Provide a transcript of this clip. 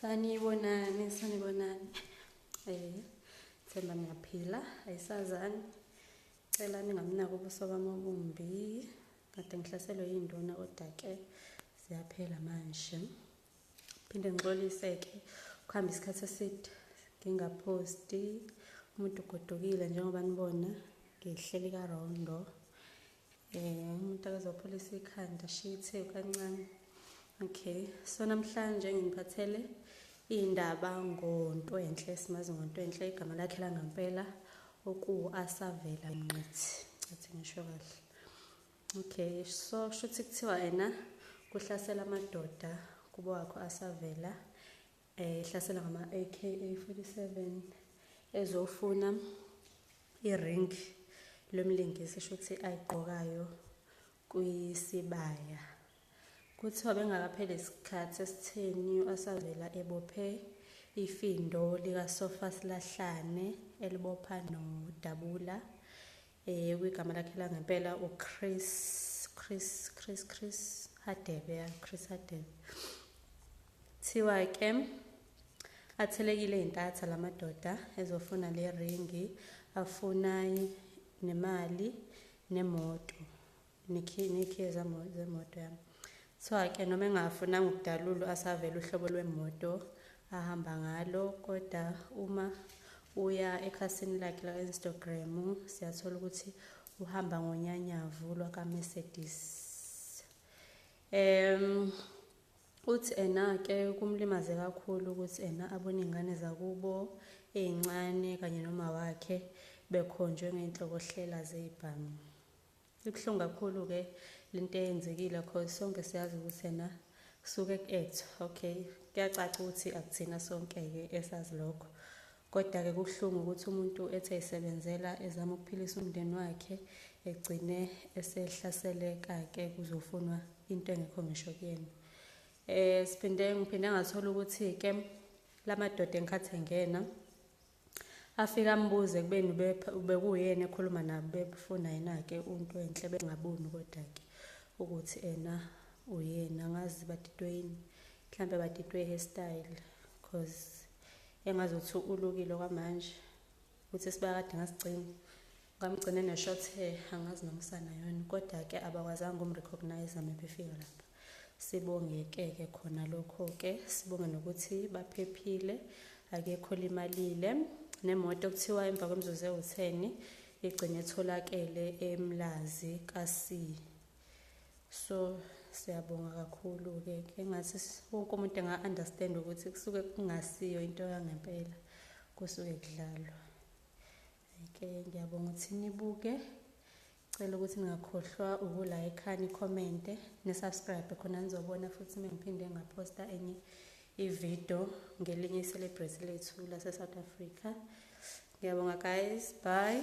sanibonani sanibonani eh themba ngiyaphila ayisazani cela ningamnako ubuso bami obumbi kade ngihlaselwe yinduna kodwa-ke ziyaphela manje phinde ngixolise-ke kuhamba isikhathi eside ngingaphosti umuntu ugodukile njengoba nibona ngihleli karondo um umuntu akazopholisa ikhanda shithe kancane okay so namhlanje nginiphathele iy'ndaba ngontwenhle simazi ngontwenhle igama lakhe langampela okuwu-asavela nqithi cathi ngisho kahle okay so shuthi kuthiwa yena kuhlasela amadoda kubo wakho asavela ehlasela ngama AK47 ezofuna iring lomlingisi shuthi ayigqokayo kwisibaya kuthiwa bengakapheli isikhathi esitheni asavela ebophe ifindo likasofa silahlane elibopha nodabula Eh kwigama lakhe la ngempela uChris Chris Chris Chris Hadebe ya Chris Hadebe. Thiwa ke athelekile intatha lamadoda ezofuna le ringi afuna nemali nemoto. Nikhiye nikhiye zemoto yami kuthiwa ke noma engafunanga ukudalulwa asavele uhlobo lwemoto ahamba ngalo kodwa uma uya ekhasini lakhe la-instagram siyathola ukuthi uhamba ngonyanyavu lwakamercedes um uthi ena-ke kumlimaze kakhulu ukuthi ena abone iy'ngane zakubo ey'ncane kanye noma wakhe bekhonjwe ngey'nhlokohlela zey'bhamu Ibuhlungu kakhulu ke lento eyenzekile cause sonke siyazi ukuthi yena suke ku-act okay kuyacaca ukuthi akuthina sonke-ke esazi lokho kodwa-ke kubuhlungu ukuthi umuntu ethi ayisebenzela ezama ukuphilisa umndeni wakhe egcine esehlaseleka-ke kuzofunwa into engekho ngisho kuyena um siphinde ngiphinde ngathola ukuthi-ke la madoda engikhathi engena Afike ambuze kubeni ubekuyena ekhuluma nabo bebufuna yena-ke untu enhle bengaboni kodwa-ke ukuthi ena uyena ngazi badidwe yini mhlampe badidwe i-hairstyle cause engazothi ulukile kwamanje ukuthi sibakade ngasigcina ngamgcine ne-short hair angazi nomsana yona kodwa-ke abakwazanga ukumrecognize mebefika lapha Sibonge-ke-ke khona lokho-ke, sibonge nokuthi baphephile, akekho olimalile. Nemoto kuthiwa emva kwemizuzu ewutheni igcine etholakele emlazi kasi. So siyabonga kakhulu-ke ke ngathi wonke umuntu enga-understand ukuthi kusuke kungasiyo into yangempela kusuke kudlalwa ke ngiyabonga ukuthi nibuke Cela ukuthi ningakhohlwa uku like ni comment ni subscribe khona nizobona futhi mengiphinde ngaposta enye ivideo ngelinye icelebrate lethu lase South Africa. Ngiyabonga guys, bye.